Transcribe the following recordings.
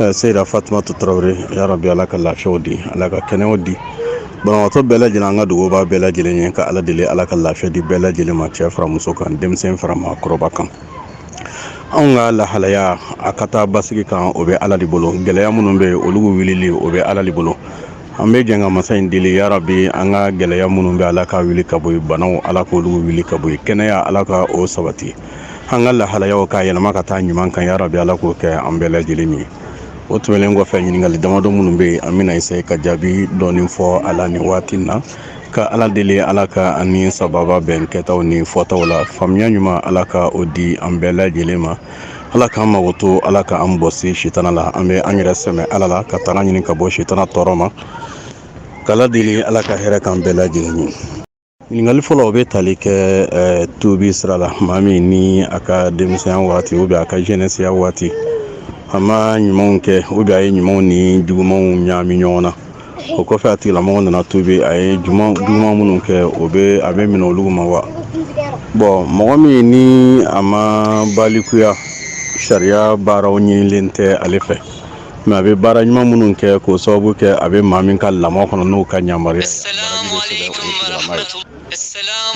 Eh, seyida fatumatu tarawele ya rabi ala ka lafiyaw di ala ka kɛnɛyaw di banabagatɔ bɛɛ lajɛlen an ka dugawu b'a bɛɛ lajɛlen ye ka ala deli ala ka lafiya di bɛɛ lajɛlen ma cɛ fara muso kan denmisɛn fara maakɔrɔba kan anw ka lahalaya a ka taa basigi kan o bɛ ala de bolo gɛlɛya minnu bɛ yen olu wulili o bɛ ala de bolo an bɛ jɛn ka masa in deli ya rabi an ka gɛlɛya minnu bɛ ala ka wuli ka bɔ yen banaw ala k'olu wuli ka bɔ yen kɛnɛya ala ka o sabati an ka lahalayaw ka yɛlɛma ka taa ɲuman kan ya rabi ala k'o kɛ an bɛɛ lajɛlen ye o tɛmɛnen kɔfɛ ɲininkali damadɔ minnu bɛ yen an bɛna essayer ka jaabi dɔɔnin fɔ a la nin waati na ka ala deli ala ka an ni sababa bɛn kɛtaw ni fɔtaw la faamuya ɲuman ala ka o di an bɛɛ lajɛlen ma ala k'an makoto ala ka an bɔsi sitana la an bɛ an yɛrɛ sɛmɛ ala la ka tanga ɲini ka bɔ sitana tɔɔrɔ ma k'ala deli ala ka hɛrɛ k'an bɛɛ lajɛlen ye ɲininkali fɔlɔ o bɛ tali kɛ eh, tubi sira la maa min ni a ka denmisɛnya waati o bɛ a ka jɛnɛsiya waati a ma ɲumanw kɛ o bɛ a ye ɲumanw ni jugumanw ɲaami ɲɔgɔn na o kɔfɛ a tigilamɔgɔ nana tubi a ye juguman minnu kɛ o bɛ a bɛ minɛ olu ma wa bon mɔgɔ min ni a ma balikuya sariya baaraw ɲinilen tɛ ale fɛ mɛ a bɛ baara ɲuman minnu kɛ k'o sababu kɛ a bɛ maa min ka lamɔ kɔnɔ n'o ka yamaruya ye, baraji bɛ sɛbɛn o tigilama ye.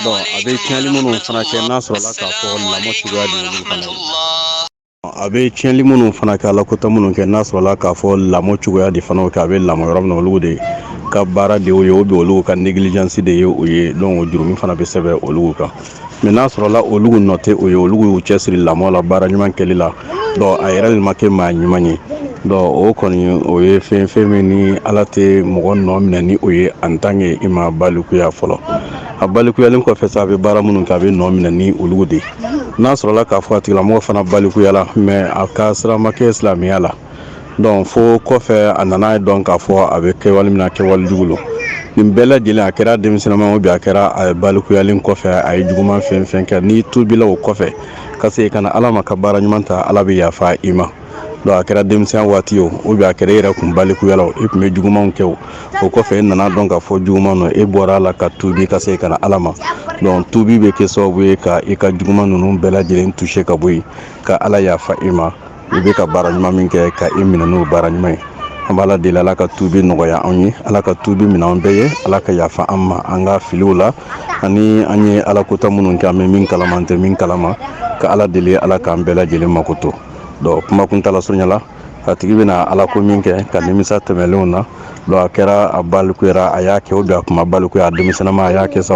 Donc a bɛ tiɲɛli minnu fana kɛ n'a sɔrɔla k'a fɔ lamɔ cogoya de y'olu fana ye. A bɛ tiɲɛli minnu fana kɛ alakota minnu kɛ n'a sɔrɔla k'a fɔ lamɔ cogoya de fana kɛ a bɛ lamɔ yɔrɔ min na olu de ka baara de y'o ye o bɛ olu ka négligence de ye o ye donc o jurumi fana bɛ sɛbɛn olu kan. mɛ n'a sɔrɔla olu nɔ tɛ o ye olu y'u cɛsiri lamɔ la baara ɲuman kɛli la donc a yɛrɛ de ma kɛ maa ɲuman ye donc o kɔni o ye fɛn fɛn min ni ala tɛ mɔgɔ nɔ minɛ ni o ye en tant que i ma balikuya fɔlɔ a balikuyalen kɔfɛ sa a bɛ baara minnu kɛ a bɛ nɔ minɛ ni olu de ye n'a sɔrɔla k'a fɔ a tigilamɔgɔ fana balikuyala mɛ a ka sira ma kɛ silamɛya la donc fo kɔfɛ a nana a dɔn k'a fɔ a bɛ kɛwale min na kɛwale jugu don nin bɛɛ lajɛlen a kɛra denmisɛnninma bi a kɛra a balikuyalen kɔfɛ a ye juguman fɛn fɛn kɛ n'i tubila o kɔfɛ ka se ka na ala ma ka baara ɲuman ta ala bɛ yafa i ma a kɛra denmisɛnya waati o o bɛ a kɛra e yɛrɛ kun balikuyala e tun bɛ jugumanw kɛ o o kɔfɛ e nana dɔn k'a fɔ juguman don e bɔra a la ka tubi ka se ka na ala ma donc tubi bɛ kɛ sababu ye ka i ka juguman ninnu bɛɛ lajɛlen jɔsi ka bɔ yen ka ala yafa i ma i bɛ ka baara ɲuman min kɛ ka i minɛ n'o baara ɲuman ye an b'ala deli ala ka tubi nɔgɔya anw ye ala ka tubi minɛ an bɛɛ ye ala ka yafa an ma an ka filiw la ani an ye ala kota minnu kɛ an bɛ min kalama an tɛ min kalama ka ala deli ala k'an bɛɛ lajɛlen makoto donc kuma kuntala surunya la a tigi bɛna ala ko min kɛ ka nimisa tɛmɛlenw na donc a kɛra a balikuyara a y'a kɛ o don a kun ma balikuya a denmisɛnninma a y'a kɛ sa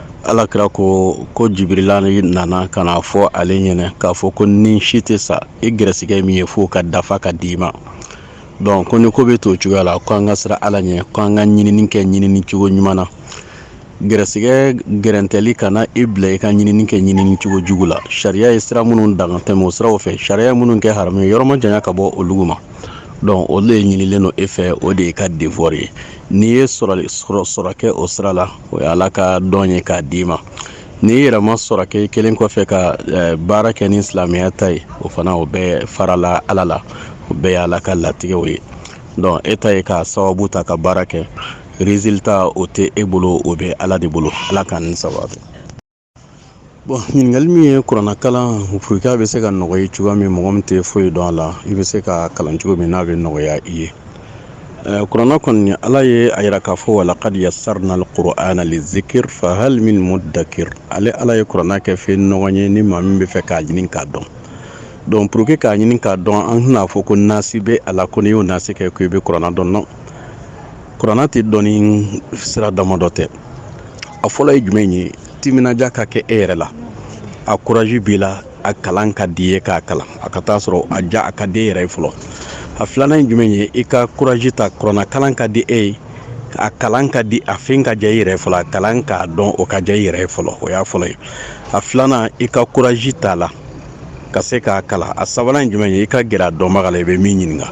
ala kira ko ko jibirila nana ka n'a fɔ ale ɲɛna k'a fɔ ko ni si tɛ sa i gɛrɛsigɛ min ye fo ka dafa ka d'i ma donc ko ni ko bɛ to cogoya la ko an ka siran ala ɲɛ ko an ka ɲinini kɛ ɲinini cogo ɲuman na gɛrɛsigɛ gɛrɛntɛli kana i bila i ka ɲinini kɛ ɲinini cogo jugu la sariya ye sira minnu daga tɛmɛ o siraw fɛ sariya minnu kɛ haramu ye yɔrɔ majanya ka bɔ olu ma donc olu de ɲinilen don e fɛ o de y'e ka devoir ye n'i ye sɔrɔ kɛ o sira la o ye ala ka don ye k'a d'i ma n'i yɛrɛ ma sɔrɔ kɛ i kɛlen kɔfɛ ka eh, baara kɛ ni silamɛya ta ye o fana o bɛɛ farala ala la o bɛɛ ye ala ka latigɛw ye donc e ta ye k'a sababu ta ka baara kɛ résultat o tɛ e bolo o bɛ ala de bolo ala k'an ni sababu bon ɲininkali min ye kuranna kalan pour que a bɛ se ka nɔgɔya cogoya min mɔgɔ min tɛ foyi dɔn a la i bɛ se ka kalan cogo min n'a bɛ nɔgɔya i ye kuranna kɔni ala ye a yira k'a fɔ walaqad yassarna al-qur'ana lizikri fahal min muddakir ale ala ye kuranna kɛ fɛn nɔgɔ ye ni maa min bɛ fɛ k'a ɲini k'a dɔn donc pour que k'a ɲini k'a dɔn an tɛn'a fɔ ko nasi bɛ a la ko n'i y'o nasi kɛ ko i bɛ kuranna dɔn non kuranna tɛ dɔn ni sira damadɔ tɛ a fɔlɔ ye jumɛn ye timinadiya ka kɛ e yɛrɛ la a kuraji b'i la a kalan ka d'i ye k'a kalan a ka taa sɔrɔ a ja a ka di e yɛrɛ ye fɔlɔ a filanan ye jumɛn ye i ka kuraji ta kuranna kalan ka di e ye a kalan ka di a fɛn ka diya i yɛrɛ ye fɔlɔ a kalan k'a dɔn o ka diya i yɛrɛ ye fɔlɔ o y'a fɔlɔ ye a filanan i ka kuraji t'a la ka se k'a kalan a sabanan ye jumɛn ye i ka gɛrɛ a dɔnbaga la i bɛ min ɲininka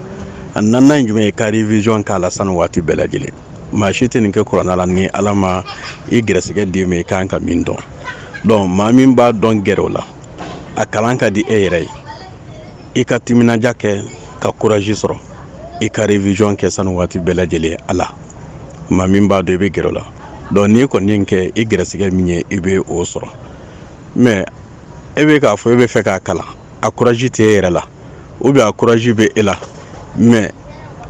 a naaninan ye jumɛn ye ka revision k'a la sanga ni waati bɛɛ lajɛlen maa si tɛ nin kɛ kuranna la ni ala ma i gɛrɛsɛgɛ d'i ma i kan ka min dɔn donc maa min b'a dɔn gɛrɛ o la a kalan ka di e yɛrɛ ye i ka timinadiya kɛ ka kuraji sɔrɔ i ka revision kɛ sanga ni waati bɛɛ lajɛlen a la maa min b'a dɔn i bɛ gɛrɛ o la donc n'i kɔni ye kɛ i gɛrɛsɛgɛ min ye i bɛ o sɔrɔ mais e bɛ k'a fɔ e bɛ fɛ k'a kalan a kuraji tɛ e yɛrɛ la ou bien a kuraji bɛ e la mais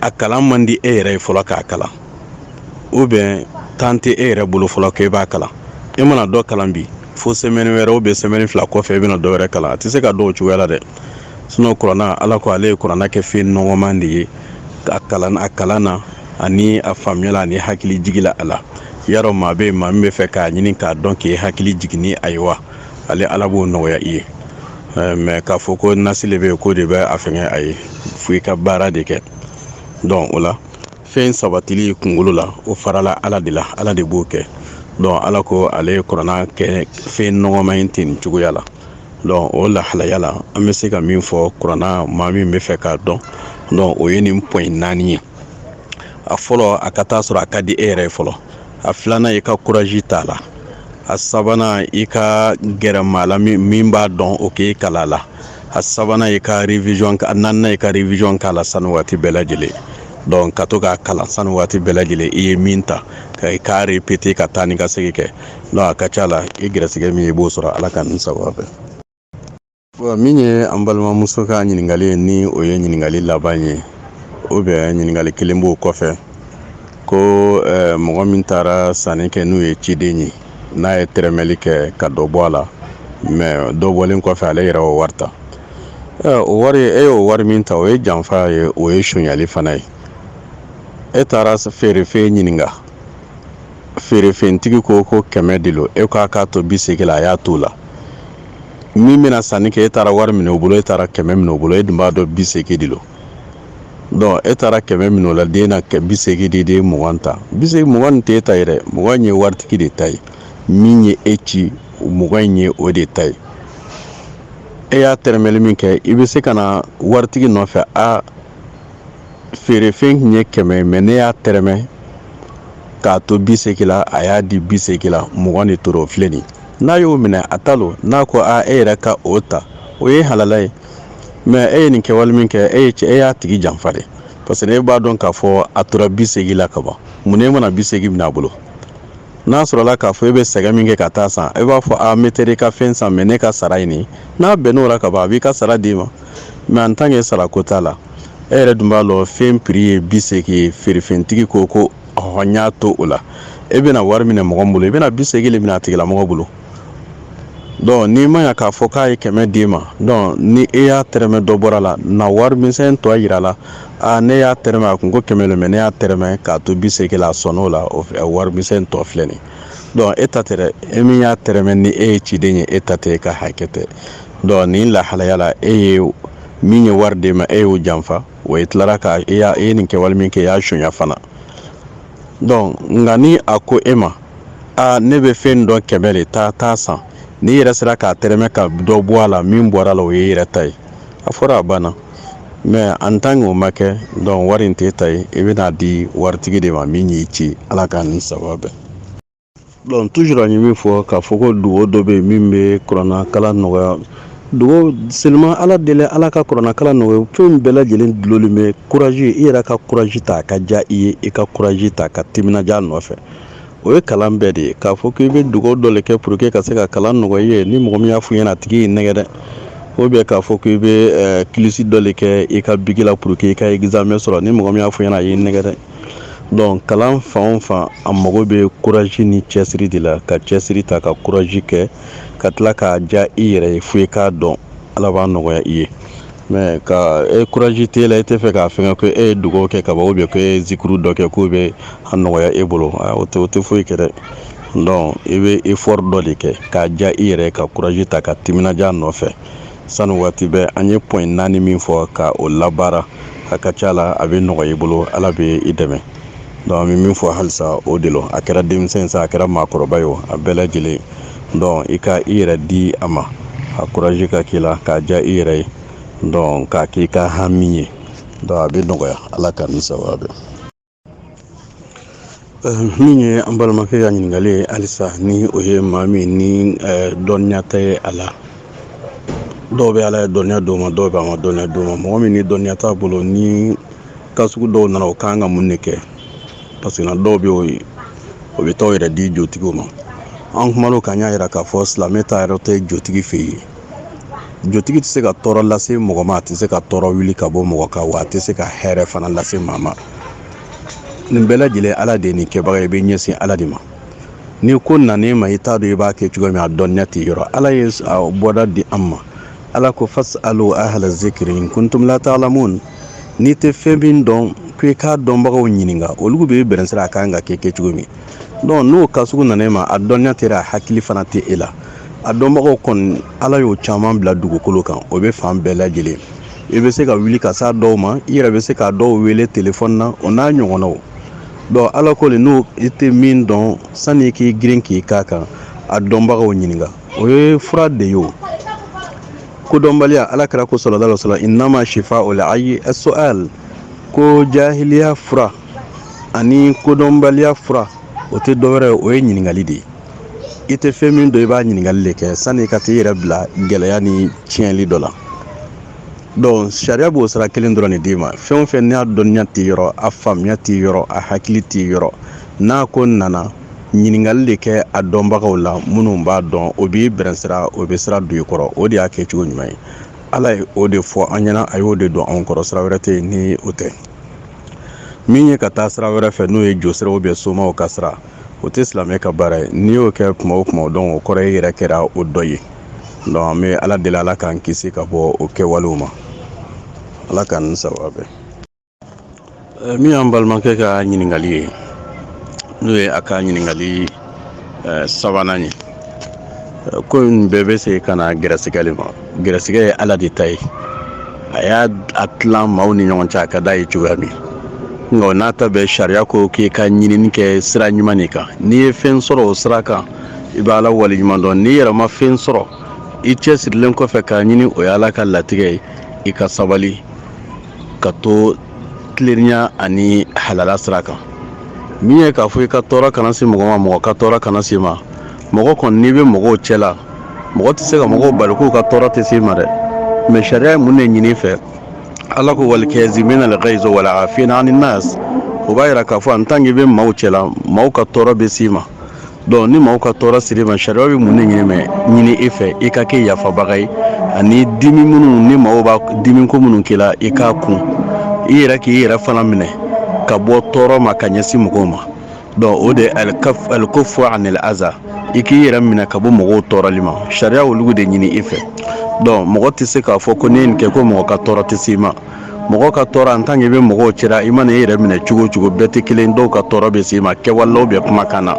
a kalan man di e yɛrɛ ye fɔlɔ k'a kalan ou bien temps tɛ e yɛrɛ bolo fɔlɔ k'e b'a kalan e mana dɔ kalan bi fo semaine wɛrɛ ou bien semaine fila kɔfɛ e bɛna dɔ wɛrɛ kalan a tɛ se ka dɔn o cogoya la dɛ sinon kuranna ala ko ale ye kuranna kɛ fɛn nɔgɔman de ye a kalan a kalan na ani a faamuya la ani hakili jigila a la yarɔ maa bɛ yen maa min bɛ fɛ k'a ɲini k'a dɔn k'i hakili jigin ni a ye wa ale ala b'o nɔgɔya i ye mais k'a fɔ ko nasi de bɛ k'o de bɛ a fɛn a ye fo i ka baara de kɛ donc o la fɛn sabatili kunkolo la o farala ala de la ala de b'o kɛ donc ala ko ale ye kuranna kɛ fɛn nɔgɔman in ten nin cogoya la donc o lahalaya la an bɛ se ka min fɔ kuranna maa min bɛ fɛ k'a dɔn donc o ye nin point naani ye a fɔlɔ a ka taa sɔrɔ a ka di e yɛrɛ ye fɔlɔ a filanan i ka kuraji t'a la a sabanan i ka gɛrɛ maa la min b'a dɔn o k'i kalan a la a sabanan i ka revision a naaninan i ka revision k'a la sani waati bɛɛ lajɛlen donc ka to k'a kalan sani waati bɛɛ lajɛlen i ye min ta ka i k'a repete ka taa ni ka segin kɛ donc a ka ca la i gɛrɛsɛgɛ min ye i b'o sɔrɔ ala k'an ni sababu bɛn min ye an balimamuso ka ɲininkali ye ni o ye ɲininkali laban ye ou bien ɲininkali kelen b'o kɔfɛ ko mɔgɔ min taara sanni kɛ n'o ye ciden ye n'a ye tɛrɛmɛli kɛ ka dɔ bɔ a la mais dɔ bɔlen kɔfɛ ale yɛrɛ o wari ta o wari e y'o wari min ta o ye janfa ye o ye sonyali fana ye e taara feerefɛn ɲininka feerefɛntigi ko ko kɛmɛ de lo e k'a k'a to bi segin la a y'a t'o la min bɛna sanni kɛ e taara wari minɛ o bolo e taara kɛmɛ minɛ o bolo e dun b'a dɔn bi segin de lo donc e taara kɛmɛ minɛ o la den na bi segin de di e ye mugan ta bi segin mugan nin tɛ e ta ye dɛ mugan in ye waritigi de ta ye min ye e ci mugan in ye o de ta ye e y'a tɛrɛmɛli min kɛ i bɛ se ka na waritigi nɔfɛ a feerefɛn tun ye kɛmɛ ye mais ne y'a tɛrɛmɛ k'a to bi segin la a y'a di bi segin la mugan de tora o filɛ nin n'a y'o minɛ a ta lo n'a ko a e yɛrɛ ka o ta o ye halala ye mais e ye nin kɛwale min kɛ e ye cɛ e y'a tigi janfa de parce que e b'a dɔn k'a fɔ a tora bi segin la ka ban mun na e ma na bi segin minɛ a bolo n'a sɔrɔla k'a fɔ e bɛ sɛgɛn min kɛ ka taa san e b'a fɔ a n bɛ taa i ka fɛn san mais ne ka sara ye nin ye n'a bɛnn'o la ka ban a b'i ka sara d'i ma mais en tant que sarako t'a la e yɛrɛ dun b'a lɔn fɛn prix ye bi segi ye feerefɛntigi ko ko ɔhɔ n y'a to o la e bɛna wari minɛ mɔgɔ min bolo i bɛna bi segi le minɛ a tigilamɔgɔ bolo donc n'i ma ya k'a fɔ k'a ye kɛmɛ d'i ma donc ni e y'a tɛrɛmɛ dɔ bɔra la na wari misɛn tɔ yir'a la a ne y'a tɛrɛmɛ a kun ko kɛmɛ le mais ne y'a tɛrɛmɛ k'a to bi segi la a sɔnn'o la o wari misɛn tɔ filɛ nin donc e ta tɛ dɛ e min y'a tɛrɛmɛ ni e ye ciden ye e ta tɛ e ka hakɛ tɛ donc nin lahalaya la e ye min ye wari d'e ma e y'o janfa o e tilara ka e y'a e ye nin kɛwale min kɛ i y'a sonya fana donc nka ni a ko e ma aa ne bɛ fɛn dɔn kɛmɛ de taa san n'i yɛrɛ sera k'a tɛrɛmɛ ka dɔ bɔ a la min bɔra la o y'i yɛrɛ ta ye a fɔra a banna mais en tant o ma kɛ donc wari in t'e ta ye i bɛn'a di waritigi de ma min y'i ci ala k'an ni sababu bɛn donc toujours an ye min fɔ k'a fɔ ko dugawu dɔ bɛ yen min bɛ kuranɛkalan nɔgɔya dugawu seulement ala deli ala ka kuranɛkalan nɔgɔya fɛn bɛɛ lajɛlen dulolen bɛ kuraji i yɛrɛ ka kuraji ta ka diya i ye i ka kuraji ta ka timinandiya nɔfɛ o ye kalan bɛɛ de ye k'a fɔ k'i bɛ dugawu dɔ de kɛ pour que ka se ka kalan nɔgɔya i ye ni mɔgɔ min y'a f'i ɲɛna a tigi y'i nɛgɛ dɛ ou bien k'a fɔ k'i bɛ eh, kilisi dɔ de kɛ i ka bigi la pour que i ka examen sɔrɔ ni mɔgɔ min y'a f'i ɲɛna a y'i nɛgɛ dɛ donc kalan fan o fan a mago bɛ courage ni cɛsiri de la ka cɛsiri ta ka courage kɛ ka tila k'a diya i yɛrɛ ye fo i k'a dɔn ala b'a nɔgɔya i ye mais ka courage t'e la e tɛ fɛ k'a fɛn ko e ye dugawu kɛ ka ban ou bien ko e zikuru dɔ kɛ k'o bɛ a nɔgɔya e bolo o tɛ o tɛ foyi kɛ dɛ donc i bɛ effort dɔ de kɛ k'a diya i yɛrɛ ka courage ta ka timinandiya nɔfɛ sanga ni waati bɛɛ an ye point naani min fɔ ka o labaara a ka ca la a bɛ nɔgɔya i bolo ala bɛ i dɛmɛ donc an bɛ min fɔ halisa o de a kɛra denmisɛnnin sa a kɛra maakɔrɔba ye a bɛɛ lajɛlen donc i ka i yɛrɛ di a ma a courage ka k'i la k'a diya i yɛrɛ ye donc k'a k'i ka hami ye donc a bɛ nɔgɔya ala k'an ni sawaba bɛn min ye an balimakɛ ka ɲininkali ye halisa ni o ye maa min ni dɔnniya tɛ ye a la dɔw bɛ ala ye dɔnniya d'o ma dɔw bɛ a ma dɔnniya d'o ma mɔgɔ min ni dɔnniya t'a bolo ni cas sugu dɔw nana o ka kan ka mun de kɛ parce que na dɔw bɛ o ye o bɛ taa yɛrɛ di jotigiw ma an kumana o kan y'a jira k'a fɔ silamɛ taayɔrɔ tɛ jotigi fɛ yen jotigi tɛ se ka tɔɔrɔ lase mɔgɔ ma a tɛ se ka tɔɔrɔ wuli ka bɔ mɔgɔ kan wa a tɛ se ka hɛrɛ fana lase maa ma nin bɛɛ lajɛlen ala de ye nin kɛbaga i bɛ ɲɛsin ala de ma ni ko nana e ma i t'a dɔn i b'a kɛ cogo min a dɔnniya t'i yɔrɔ ala ye bɔda di an ma ala ko fas'alu ahla zikri in kuntum la ta'lamun n'i tɛ fɛn min dɔn ko i k'a dɔnbagaw ɲininka olu b'i bɛrɛn sira a kan ka kɛ kɛ cogo min donc n'o cas sugu nana e ma a dɔnniya t'e la a hakili fana tɛ e la a dɔnbagaw kɔni ala y'o caman bila dugukolo kan o bɛ fan bɛɛ lajɛlen i bɛ se ka wuli ka s'a dɔw ma i yɛrɛ bɛ se k'a dɔw wele telefɔni na o n'a ɲɔgɔnnaw donc ala ko le n'i tɛ min dɔn sani i k'i girin k'i k'a kan a dɔnbagaw ɲininka o ye fura de ye o kodɔnbaliya ala kira ko sallallahu alaihi wasallam innama shifa'ul ayyi as-su'al ko jahiliya fura ani kodɔnbaliya fura o tɛ dɔwɛrɛ ye o ye ɲininkali de ye i tɛ fɛn min dɔn i b'a ɲininkali de kɛ sani i ka t'i yɛrɛ bila gɛlɛya ni tiɲɛli dɔ la donc sariya b'o sira kelen dɔrɔn de d'i ma fɛn o fɛn n'a dɔnniya t'i yɔrɔ a faamuya t'i yɔrɔ a hakili t'i yɔrɔ n'a ko nana ɲininkali de kɛ a dɔnbagaw la minnu b'a dɔn o b'i bilasira o bɛ sira don i kɔrɔ o de y'a kɛ cogo ɲuman ye ala ye o de fɔ an ɲɛna a y'o de don anw kɔrɔ sira wɛrɛ tɛ yen ni o tɛ min ye ka taa sira wɛrɛ fɛ n'o ye josiraw ou bien somaw ka sira o tɛ silamɛ ka baara ye n'i y'o kɛ kuma o kuma donc o kɔrɔ e yɛrɛ kɛra o dɔ ye donc an bɛ ala deli ala k'an kisi ka bɔ o kɛwalew ma ala k'an ni sawaba bɛn Eh, min y'an balimakɛ ka ɲininkali ye n'o ye a ka ɲininkali eh, sabanan ye eh, ko in bɛɛ bɛ se ka na gɛrɛsɛgɛ de ma gɛrɛsɛgɛ ye ala de ta ye a y'a tila maaw ni ɲɔgɔn cɛ a ka d'a ye cogoya min nka o n'a ta bɛɛ sariya ko k'i ka ɲinini kɛ sira ɲuman de kan n'i ye fɛn sɔrɔ o sira kan i bɛ ala waleɲumandɔn n'i yɛrɛ ma fɛn sɔrɔ i cɛsirilen kɔfɛ k'a ɲini o ye ala ka latigɛ ye i ka sabali ka to tilennenya ani halala sira kan min ye k'a fɔ i ka tɔɔrɔ kana se mɔgɔ ma mɔgɔ ka tɔɔrɔ kana s'i ma mɔgɔ kɔni n'i bɛ mɔgɔw cɛ la mɔgɔ tɛ se ka mɔgɔw bali k'u ka tɔɔrɔ tɛ s'i ma dɛ mɛ sariya ye mun de ɲin'i fɛ ala ko wal kazimina al-ghayza wal afina anin nas o b'a yira k'a fɔ an tan k'i bɛ maaw cɛla maaw ka tɔɔrɔ bɛ s'i ma dɔnku ni maaw ka tɔɔrɔ ser'i ma sariya bɛ mun ne ɲini mɛ ɲini e fɛ i ka kɛ yafabaga ye ani dimi minnu ni maaw bɛ dimi ko minnu k'i la i k'a kun i yɛrɛ k'i yɛrɛ fana minɛ ka bɔ tɔɔrɔ ma ka ɲɛsin mɔgɔw ma dɔn o de al-kaffu anil aza i k'i yɛrɛ minɛ ka bɔ mɔgɔw tɔɔrɔli ma sariya olu de ɲini i fɛ dɔn mɔgɔ tɛ se k'a fɔ ko n'i ye nin kɛ ko mɔgɔ ka tɔɔrɔ tɛ se i ma mɔgɔ ka tɔɔrɔ an tan k'i bɛ mɔgɔw cɛra i mana i yɛrɛ minɛ cogo o cogo bɛɛ tɛ kelen dɔw ka tɔɔrɔ bɛ se i ma kɛwalew bɛ kumakan na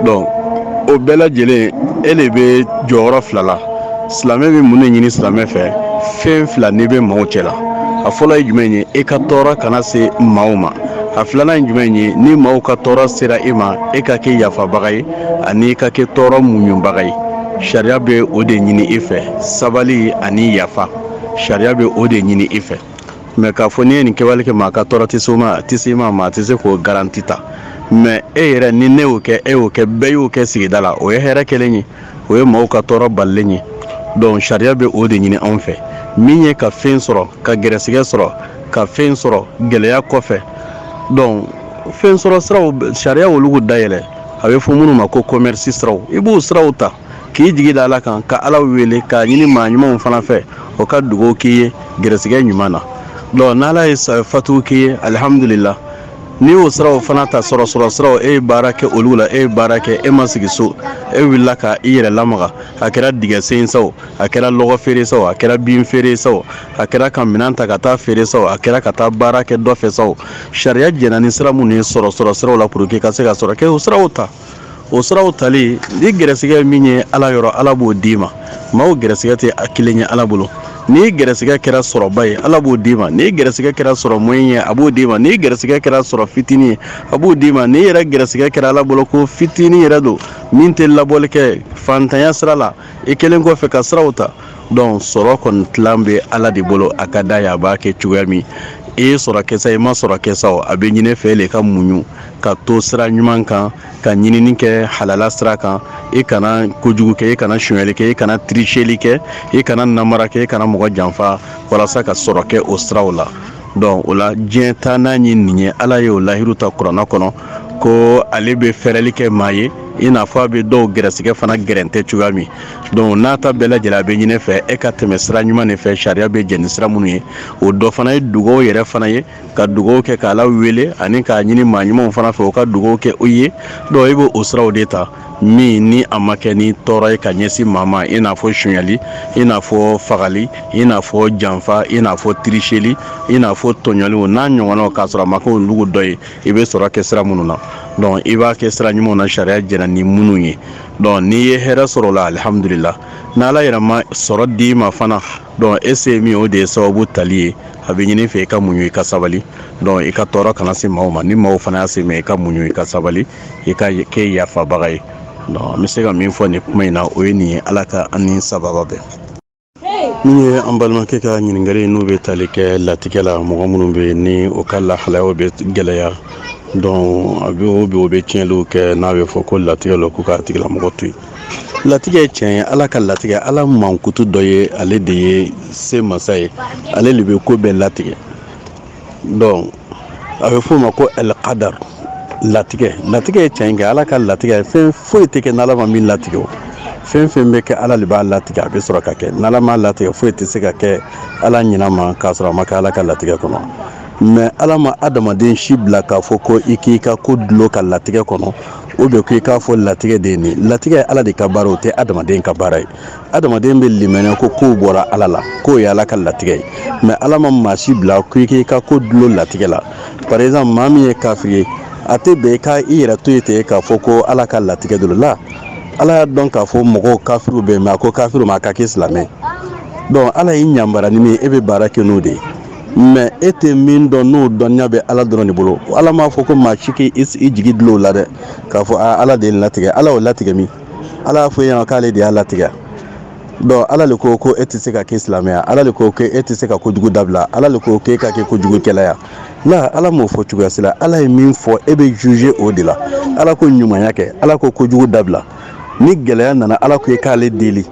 dɔn o bɛɛ lajɛlen e de bɛ jɔyɔrɔ fila la silamɛ bɛ mun de ɲini silamɛ fɛ fɛn fila n'i bɛ maaw cɛ la a fɔlɔ ye jumɛn ye e ka tɔɔrɔ kana se maaw ma a filanan ye jumɛn ye ni maaw ka tɔɔrɔ sera e ma e ka kɛ yafabaga ye ani e ka kɛ tɔɔrɔ muɲubaga ye sariya bɛ o de ɲini e fɛ sabali ani yafa sariya bɛ o de ɲini i fɛ mɛ k'a fɔ n'i ye nin kɛwale kɛ maa ka tɔɔrɔ tɛ s'i ma maa tɛ se k'o garanti ta mɛ e yɛrɛ ni ne y'o kɛ e y'o kɛ bɛɛ y'o kɛ sigida la o ye hɛrɛ kɛlen ye o ye maaw ka tɔɔrɔ balilen ye dɔnku sariya bɛ o de ɲini anw fɛ min ye ka fɛn sɔrɔ ka gɛrɛsɛgɛ sɔrɔ ka fɛn sɔrɔ gɛlɛya kɔfɛ dɔnku fɛn sɔrɔ siraw sariya y'olu dayɛlɛ a bɛ fɔ minnu ma ko kɔmɛrisi siraw i b'o siraw ta k'i jigi da ala kan ka ala wele k'a ɲini maa ɲumanw fana fɛ u ka dugawu k'i ye gɛrɛsɛgɛ ɲuman na dɔn n'ala ye fatu k'i ye alihamdulila n'i y'o siraw fana ta sɔrɔ sɔrɔ siraw e ye baara kɛ olu la e ye baara kɛ e ma sigi so e wulila ka i yɛrɛ lamaga a kɛra dingɛsen sa o a kɛra lɔgɔ feere sa o a kɛra bin feere sa o a kɛra ka minɛn ta ka taa feere sa o a kɛra ka taa baara kɛ dɔ fɛ sa o sariya jɛnna ni sira minnu ye sɔrɔ sɔrɔ siraw la puruke ka se ka sɔrɔ kɛ o siraw ta o siraw tali ni gɛrɛsɛgɛ ye min ye ala yɔrɔ ala b'o d'i ma maaw gɛrɛsɛgɛ tɛ a kelen ye ala bolo ni gɛrɛsɛgɛ kɛra sɔrɔba ye ala b'o d'i ma ni gɛrɛsɛgɛ kɛra sɔrɔ moyen ye a b'o d'i ma ni gɛrɛsɛgɛ kɛra sɔrɔ fitinin ye a b'o d'i ma ni yɛrɛ gɛrɛsɛgɛ kɛra ala bolo ko fitinin yɛrɛ don min tɛ labɔli kɛ fantanya sira la i kɛlen kɔfɛ ka siraw ta donc sɔrɔ kɔni tilan bɛ ala de bolo a ka d'a ye a b'a kɛ cogoya min i ye sɔrɔ kɛ sa i ma sɔrɔ kɛ sa a bɛ ɲini fɛ de ka muɲu ka to sira ɲuman kan ka ɲinini kɛ halala sira kan i kana kojugu kɛ i kana sonyali kɛ i kana tricheli kɛ i kana namara kɛ i kana mɔgɔ janfa walasa ka sɔrɔ kɛ o siraw la donc o la diɲɛ taa n'a ye nin ye ala ye o lahidu ta kuranna kɔnɔ ko ale bɛ fɛrɛli kɛ maa ye i n'a fɔ a bɛ dɔw gɛrɛsɛgɛ fana gɛrɛntɛ cogoya min donc n'a ta bɛɛ lajɛlen a bɛ ɲini fɛ e ka tɛmɛ sira ɲuman de fɛ sariya bɛ jɛn ni sira minnu ye o dɔ fana ye dugaw yɛrɛ fana ye ka dugaw kɛ k'ala wele ani k'a ɲini maa ɲumanw fana fɛ u ka dugaw kɛ u ye donc i bɛ o siraw de ta min ni a ma kɛ ni tɔɔrɔ ye ka ɲɛsin maa ma i n'a fɔ sonyali i n'a fɔ fagali i n'a fɔ janfa i n'a fɔ tricheli i n'a fɔ tɔɲɔliw n'a ɲɔgɔnnaw k'a sɔrɔ a ma kɛ olugu dɔ ye i bɛ sɔrɔ kɛ sira minnu na donc i b'a kɛ sira ɲumanw na sariya jɛnna ni minnu ye donc n'i ye hɛrɛ sɔrɔ o la alihamudulila n'ala yɛrɛ ma sɔrɔ d'i ma fana donc e se ye min o de ye sababu tali ye a bɛ ɲini fɛ i ka muɲu i ka sabali donc i ka tɔɔrɔ kana se maaw ma ni maaw fana y'a se i ma i ka muɲu i ka sabali i ka kɛ yafabaga ye n bɛ se ka min fɔ nin kuma in na o ye nin ye ala ka an ni sababa bɛn min ye an balimakɛ ka ɲininkali n'u bɛ tali kɛ latigɛ la mɔgɔ minnu bɛ ni o ka lahalayaw bɛ gɛlɛya donc a bɛ o bɛ o bɛ tiɲɛliw kɛ n'a bɛ fɔ ko latigɛ lo k'u k'a tigilamɔgɔ to yen latigɛ ye tiɲɛ ye ala ka latigɛ ala mankutu dɔ ye ale de ye se masa ye ale de bɛ ko bɛɛ latigɛ donc a bɛ f'o ma ko alkadar latigɛ latigɛ ye tiɲɛ kɛ ala ka latigɛ fɛn foyi tɛ kɛ n'ala ma min latigɛ o fɛn fɛn bɛ kɛ ala de b'a latigɛ a bɛ sɔrɔ ka kɛ n'ala m'a latigɛ foyi tɛ se ka kɛ ala ɲinɛ ma k'a sɔrɔ a ma kɛ ala ka latigɛ kɔnɔ mais ala ma adamaden si bila k'a fɔ ko i k'i ka ko dulon ka latigɛ kɔnɔ ou bien ko i k'a fɔ latigɛ de ye nin latigɛ ye ala de ka baara o tɛ adamaden ka baara ye adamaden bɛ limaniya ko kow bɔra ala la k'o ye ala ka latigɛ ye mais ala ma maa si bila ko i k'i ka ko dulon latigɛ la par exemple maa min ye kafiri ye a tɛ bɛn i ka i yɛrɛ to yen ten k'a fɔ ko ala ka latigɛ dɔ lo ala y'a dɔn k'a fɔ mɔgɔw kafiriw bɛ yen mais a ko kafiriw ma a ka kɛ silamɛ donc ala y'i yamari ni min ye e bɛ baara kɛ n'o de ye mais e tɛ min dɔn n'o dɔnniya bɛ ala dɔrɔn de bolo ala m'a fɔ ko maa si k'i jigi dulon o la dɛ k'a fɔ ala de y'a latigɛ ala y'o latigɛ min ala y'a fɔ i ye k'ale de y'a latigɛ donc ala de ko ko e tɛ se ka kɛ silamɛ ya ala de ko e tɛ se ka kojugu dabila ala de ko k'e ka kɛ kojugukɛla ya la ala m'o fɔ cogoya si la ala ye min fɔ e bɛ juger o de la ala ko ɲumanya kɛ ala ko kojugu dabila ni gɛlɛya nana ala ko i k'ale deli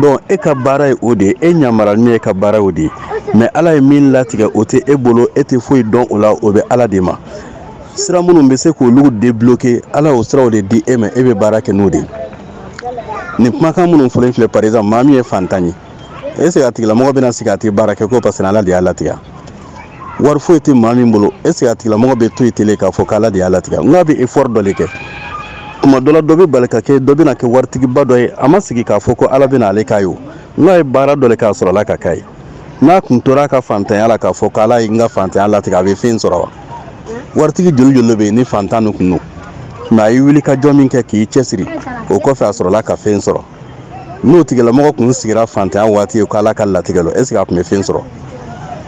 donc e ka baara ye o de ye e ɲamara min ye ka baara o de ye mais ala ye min latigɛ o tɛ e bolo e tɛ foyi dɔn o la o bɛ ala de ma sira minnu bɛ se k'olu débloquer ala y'o siraw de di e ma e bɛ baara kɛ n'o de ye nin kumakan minnu fɔlen filɛ par exemple maa min ye fantan ye est ce que a tigilamɔgɔ bɛna sigi a tɛ baara kɛ ko parce que ala de y'a latigɛ wari foyi tɛ maa min bolo est ce que a tigilamɔgɔ bɛ to yen ten le k'a fɔ k'ala de y'a latigɛ nk'a bɛ effort dɔ de kɛ tuma dɔ la dɔ bɛ bali ka kɛ dɔ bɛna kɛ waritigiba dɔ ye a ma sigi k'a fɔ ko ala bɛna ale k'a ye o nk'a ye baara dɔ le k'a sɔrɔ ala ka k'a ye n'a kun tora a ka fantanya la k'a fɔ k'ala ye n ka fantanya latigɛ a bɛ fɛn sɔrɔ wa waritigi joli joli bɛ yen ni fantan de kun don mais a ye wuli ka jɔ min kɛ k'i cɛsiri o kɔfɛ a sɔrɔla ka fɛn sɔrɔ n'o tigilamɔgɔ kun sigira fantanya waati ye k'ala ka latigɛ don est ce que a tun bɛ fɛn sɔrɔ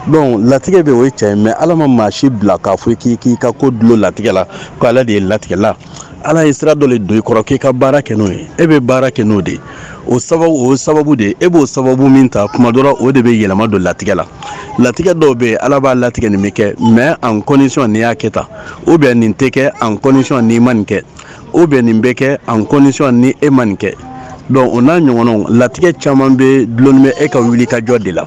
donc latigɛ bɛ o ye tiɲɛ ye mais ala ma maa si bila k'a fɔ k'i k'i ka ko dulon latigɛ la ko ala de ye latigɛ la ala ye sira dɔ de don i kɔrɔ k'i ka baara kɛ n'o ye e bɛ baara kɛ n'o de ye o sababu o sababu de ye e b'o sababu min ta kuma dɔ la o de bɛ yɛlɛma don latigɛ la latigɛ dɔw bɛ yen ala b'a latigɛ nin bɛ kɛ mais en condition n'i y'a kɛ tan ou bien nin tɛ kɛ en condition n'i ma nin kɛ ou bien nin bɛ kɛ en condition ni e ma nin kɛ donc o n'a ɲɔgɔnna latigɛ caman bɛ dulonnen bɛ e ka wuli ka jɔ de la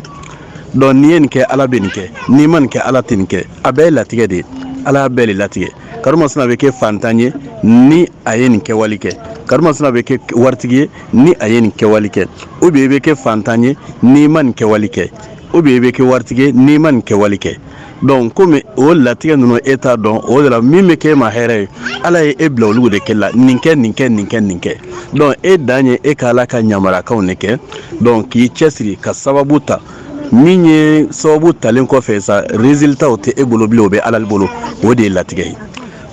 donc n'i ye nin kɛ ala bɛ nin kɛ n'i ma nin kɛ ala tɛ nin kɛ a bɛɛ ye latigɛ de ye ala y'a bɛɛ de latigɛ karimasina bɛ kɛ fantan ye ni a ye nin kɛwale kɛ karimasina bɛ kɛ waritigi ye ni a ye nin kɛwale kɛ ou bien e bɛ kɛ fantan ye n'i ma nin kɛwale kɛ ou bien e bɛ kɛ waritigi ye n'i ma nin kɛwale kɛ donc comme o latigɛ ninnu e t'a dɔn o de la min bɛ k'i ma hɛrɛ ye ala ye e bila olu de kɛ la nin kɛ nin kɛ nin kɛ nin kɛ donc e dan ye e ka ala ka yamaruyakanw de kɛ donc k'i cɛsiri ka sababu ta min ye sababu talen kɔfɛ sa résultatw tɛ e bolo bilen o bɛ ala bolo o de ye latigɛ ye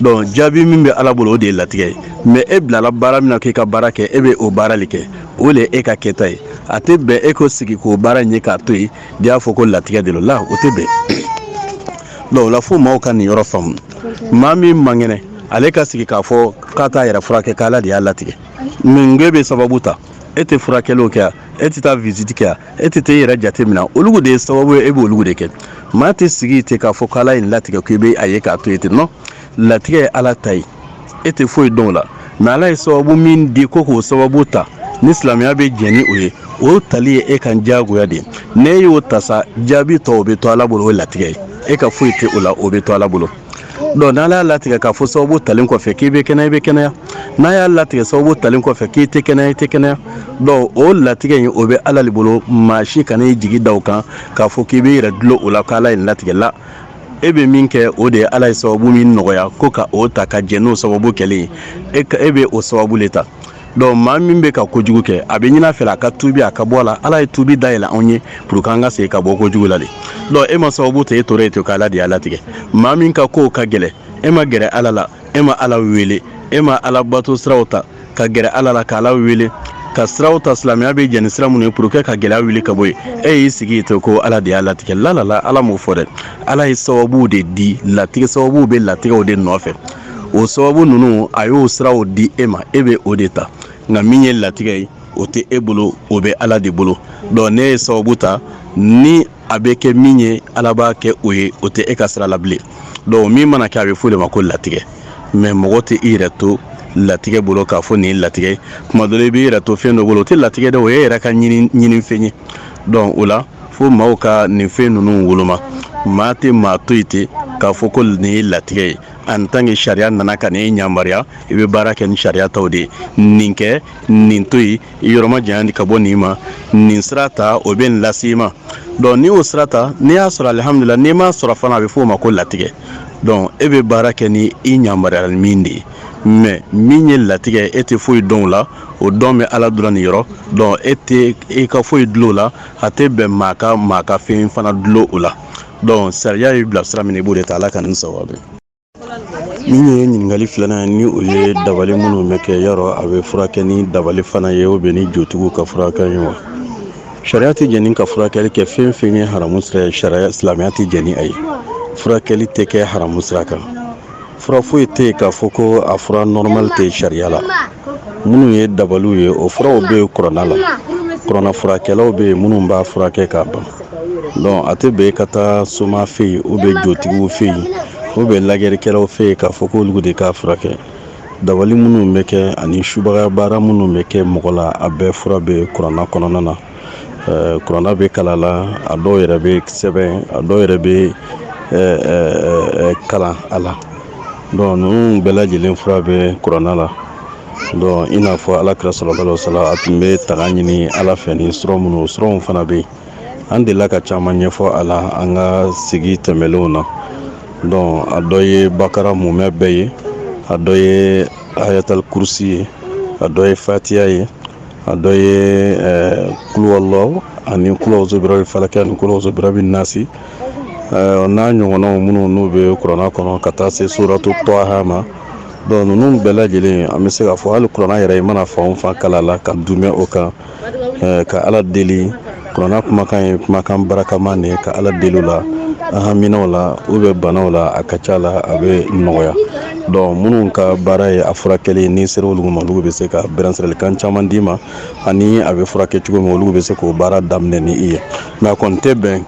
donc jaabi min bɛ ala bolo o de ye latigɛ ye mais e bilala baara min na k'i ka baara kɛ e bɛ o baara de kɛ o de ye e ka kɛta ye a tɛ bɛn e ka sigi k'o baara ye k'a to yen de y'a fɔ ko latigɛ de lo la o tɛ bɛn donc o la fo maaw ka nin yɔrɔ faamu maa min man kɛnɛ ale ka sigi k'a fɔ k'a t'a yɛrɛ furakɛ k'ala de y'a latigɛ mais nk'i bɛ sababu ta e tɛ furakɛliw kɛ ya e tɛ taa visite kɛ ya e tɛ taa i yɛrɛ jate minɛ olu de ye sababu ye e b'olu de kɛ maa tɛ sigi ten k'a fɔ k'ala ye nin latigɛ k'i bɛ a ye k'a to yen ten non latigɛ ye ala ta ye e tɛ foyi dɔn o la mais ala ye sababu min di ko k'o sababu ta ni silamɛya bɛ jɛn ni o ye o tali ye e kan diyagoya de ye n'e y'o ta sa jaabi tɔ o bɛ to ala bolo o ye latigɛ ye e ka foyi tɛ o la o bɛ to ala bolo donc n'ala y'a latigɛ k'a fɔ sababu talen kɔfɛ k'i bɛ kɛnɛya i bɛ kɛnɛya n'a y'a latigɛ sababu talen kɔfɛ k'i tɛ kɛnɛya i tɛ kɛnɛya donc o latigɛ in o bɛ ala de bolo maa si kana i jigi da o kan k'a fɔ k'i bɛ i yɛrɛ dulon o la k'ala ye latigɛ la e bɛ min kɛ o de ye ala ye sababu min nɔgɔya ko ka o ta ka jɛn n'o sababu kɛlen ye e bɛ o sababu le ta donc maa min bɛ ka kojugu kɛ a bɛ ɲini a fɛ a ka tubi a ka bɔ a la ala ye tubi da yɛlɛ anw ye pour que an ka se ka bɔ kojugu la de donc e ma sababu ta e tora yen ten k'ala de y'a latigɛ maa min ka kow ka gɛlɛn e ma gɛrɛ ala la e ma ala wele e ma ala bato siraw ta ka gɛrɛ ala la k'ala wele ka siraw ta silamɛya bɛ jɛn ni sira minnu ye pour que ka gɛlɛya wuli ka bɔ yen e y'i sigi ten ko ala de y'a latigɛ la la la ala m'o fɔ dɛ ala ye sababuw de di latigɛ sababuw bɛ latigɛw de nɔfɛ o sababu ninnu a y'o siraw di e ma e bɛ o de ta nka min ye latigɛ ye o tɛ e bolo o bɛ ala de bolo donc ne ye sababu ta ni a bɛ kɛ min ye ala b'a kɛ o ye o tɛ e ka sira la bilen donc min mana kɛ a bɛ f'o de ma ko latigɛ mais mɔgɔ tɛ i yɛrɛ to latigɛ bolo k'a fɔ nin ye latigɛ tuma dɔ la i b'i yɛrɛ to fɛn dɔ bolo o tɛ latigɛ dɛ o y'e yɛrɛ ka ɲinifɛn ye donc o la fo maaw ka nin fɛn ninnu woloma maa tɛ maa to yen ten k'a fɔ ko nin ye latigɛ ye en tant que sariya nana ka nin yamaruya i bɛ baara kɛ ni sariya taw de ye nin kɛ nin to yen i yɔrɔ majanya ka bɔ nin ma nin sira ta o bɛ nin lase i ma donc n'i y'o sira ta n'i y'a sɔrɔ alihamudulila n'i m'a sɔrɔ fana a bɛ f'o ma ko latigɛ donc e bɛ baara kɛ ni i yamaruyala min de ye mais min ye latigɛ e tɛ foyi dɔn o la o dɔn bɛ ala dɔrɔn de yɔrɔ donc e tɛ i ka foyi dulon o la a tɛ bɛn maa ka maa ka fɛn fana dulon o la donc sariya y'i bila sira min i b'o de ta ala ka nin saba min ye ɲininkali filanan ni o ye dabali minnu bɛ kɛ yɔrɔ a bɛ furakɛ ni dabali fana ye ou bien ni jotigiw ka furakɛ ye wa sariya tɛ jɛn n'i ka furakɛli kɛ fɛn fɛn ye haramu sira ye sariya silamɛya tɛ jɛn ni a ye furakɛli tɛ kɛ haramu sira kan fura foyi tɛ yen k'a fɔ ko a fura normal tɛ sariya la minnu ye dabaliw ye o furaw bɛ yen kuranna la kuranna furakɛlaw bɛ yen minnu b'a furakɛ k'a ban donc a tɛ bɛn ka taa soma fɛ yen ou bien jotigiw fɛ yen ou bien lajɛlikɛlaw fɛ yen k'a fɔ k'olu de k'a furakɛ dabali minnu bɛ kɛ ani subaga baara minnu bɛ kɛ mɔgɔ la a bɛɛ fura bɛ kuranna kɔnɔna na eh, kuranna bɛ kalan a la a dɔw yɛrɛ bɛ sɛbɛn a dɔw yɛrɛ bɛ eh, eh, kalan a la donc ninnu bɛɛ lajɛlen fura bɛ kuranna la donc i n'a fɔ ala kira sallallahu alaihi wasallam a tun bɛ tanga ɲini ala fɛ ni suran minnu suranw fana bɛ yen an delila ka caman ɲɛfɔ a la an ka sigi tɛmɛnlenw na donc a dɔ ye bakara mumɛ bɛɛ ye a dɔ ye ayatali kurusi ye a dɔ ye fatiya ye a dɔ ye eh, kuluwalɔ ani kulawzobirabi falakɛ ani kulawzobirabi nasi eh, n'a ɲɔgɔnnaw minnu n'u bɛ kuranna kɔnɔ ka taa se suratu tɔha ma donc ninnu bɛɛ lajɛlen an bɛ se k'a fɔ hali kuranna yɛrɛ i mana fan o fan kalan a la ka dumɛ o kan ka ala deli kuranna kumakan ye kumakan barakaman de ye ka ala deli o la an haminaw la ou bien banaw la a ka ca la a bɛ nɔgɔya donc minnu ka baara ye a furakɛli n'i sera olu ma olu bɛ se ka bilasiralikan caman d'i ma ani a bɛ furakɛ cogo min olu bɛ se k'o baara daminɛ ni i ye nka kɔni tɛ bɛn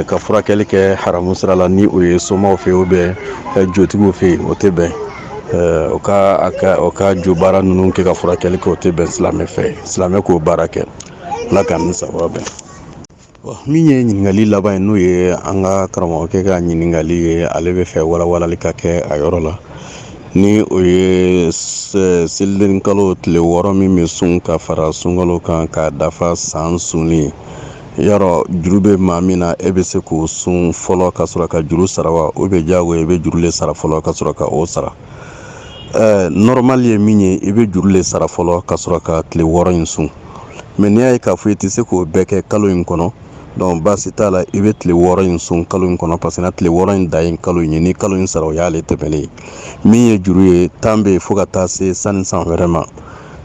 ka furakɛli kɛ haramu sira la ni o ye somaw fɛ ou bien jotigiw fɛ yen o tɛ bɛn o ka o ka jo baara ninnu kɛ ka furakɛli kɛ o tɛ bɛn silamɛ fɛ silamɛ k'o baara kɛ ala ka ni saba bɛn min ye ɲininkali laban ye n'o ye an ka karamɔgɔkɛ ka ɲininkali ye ale b'a fɛ walawalali ka kɛ a yɔrɔ la ni o ye seliden kalo tile wɔɔrɔ min bɛ sun ka fara sunkalo kan k'a dafa san sunni yɔrɔ juru bɛ maa min na e bɛ se k'o sun fɔlɔ ka sɔrɔ ka juru sara wa ou bien diyagoya i bɛ juru de sara fɔlɔ ka sɔrɔ ka o sara ɛɛ nɔrɔmali ye min ye i bɛ juru de sara fɔlɔ ka sɔrɔ ka tile wɔɔrɔ in sun mais n'i y'a ye k'a fɔ i tɛ se k'o bɛɛ kɛ kalo in kɔnɔ donc baasi t'a la i bɛ tile wɔɔrɔ in sun kalo in kɔnɔ parce que tile wɔɔrɔ in da ye kalo in ye ni kalo in sara o y'ale tɛmɛnen ye min ye juru ye tan bɛ yen fo ka taa se sanni san wɛrɛ ma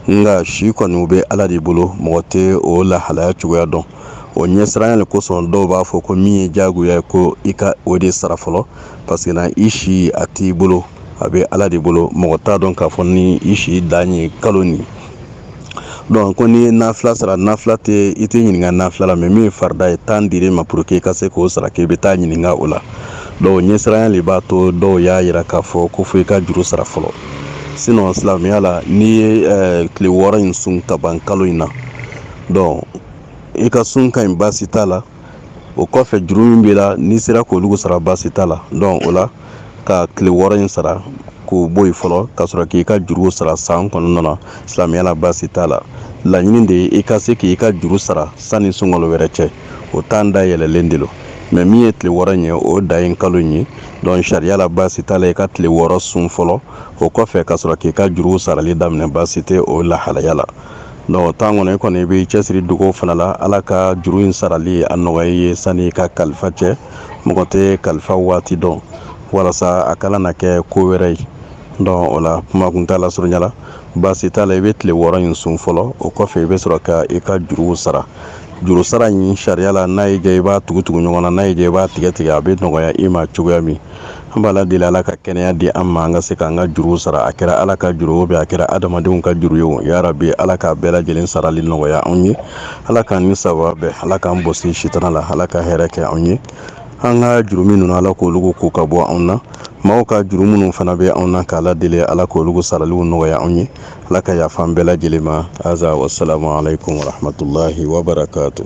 nka si kɔni u bɛ ala de bolo mɔgɔ tɛ o lahalaya cogoya dɔn o ɲɛsiranya le kosɔn dɔw b'a fɔ ko min ye diyagoya ye ko i ka o de sara fɔlɔ parce que na i si a t'i bolo a bɛ ala de bolo mɔgɔ t'a dɔn k'a fɔ ni i si dan ye kalo nin donc ko n'i ye nafila sara nafila tɛ i tɛ ɲininka nafila la mais min ye farida ye tan dir'i ma pour que i ka se k'o sara k'i bɛ taa ɲininka o la donc ɲɛsiranya le b'a to dɔw y'a yira k'a fɔ ko fo i ka juru sara fɔlɔ sinon silamɛya la n'i ye eh, tile wɔɔrɔ in sun ka ban kalo in na donc i ka sun ka ɲi baasi t'a la o kɔfɛ juru min b'i la n'i sera k'olu sara baasi t'a la donc o la ka tile wɔɔrɔ in sara k'o bɔ yen fɔlɔ ka sɔrɔ k'i ka juru sara san kɔnɔna na silamɛya la baasi t'a la laɲini de ye i ka se k'i ka juru sara sanni sunkalo wɛrɛ cɛ o tan da yɛlɛlen de lo mais min ye tile wɔɔrɔ in ye o da ye kalo in ye donc sariya la baasi t'a la i ka tile wɔɔrɔ sun fɔlɔ o kɔfɛ ka sɔrɔ k'i ka juru sarali daminɛ baasi tɛ o lahalaya la donc o tan kɔnɔ i kɔni i b'i cɛsiri dugaw fana la ala ka juru in sarali a nɔgɔya i ye sani i ka kalifa cɛ mɔgɔ tɛ kalifa waati dɔn walasa a kana na kɛ ko wɛrɛ ye donc o la kuma kuntaala surunya la baasi t'a la i bɛ tile wɔɔrɔ in sun fɔlɔ o kɔfɛ i bɛ sɔrɔ ka i ka juruw sara juru sara in sariya la n'a y'i diya i b'a tugu tugu ɲɔgɔn na n'a y'i diya i b'a tigɛ tigɛ a bɛ nɔgɔya i ma cogoya min an b'ala deli ala ka kɛnɛya di an ma an ka se k'an ka juruw sara a kɛra ala ka juru o bɛ a kɛra adamadenw ka juru ye o yarabi ala k'a bɛɛ lajɛlen sarali nɔgɔya anw ye ala k'an ni sawaba bɛn ala k'an bɔsi sitana la ala ka hɛrɛ kɛ anw ye an ka jurumu ninnu ala k'olu ko ka bɔ anw na maaw ka juru minnu fana bɛ anw na k'ala deli ala k'olu saraliw nɔgɔya anw ye ala ka yafa an bɛɛ lajɛlen ma aza wasalamu alaikum warahmatullahi wabarakatu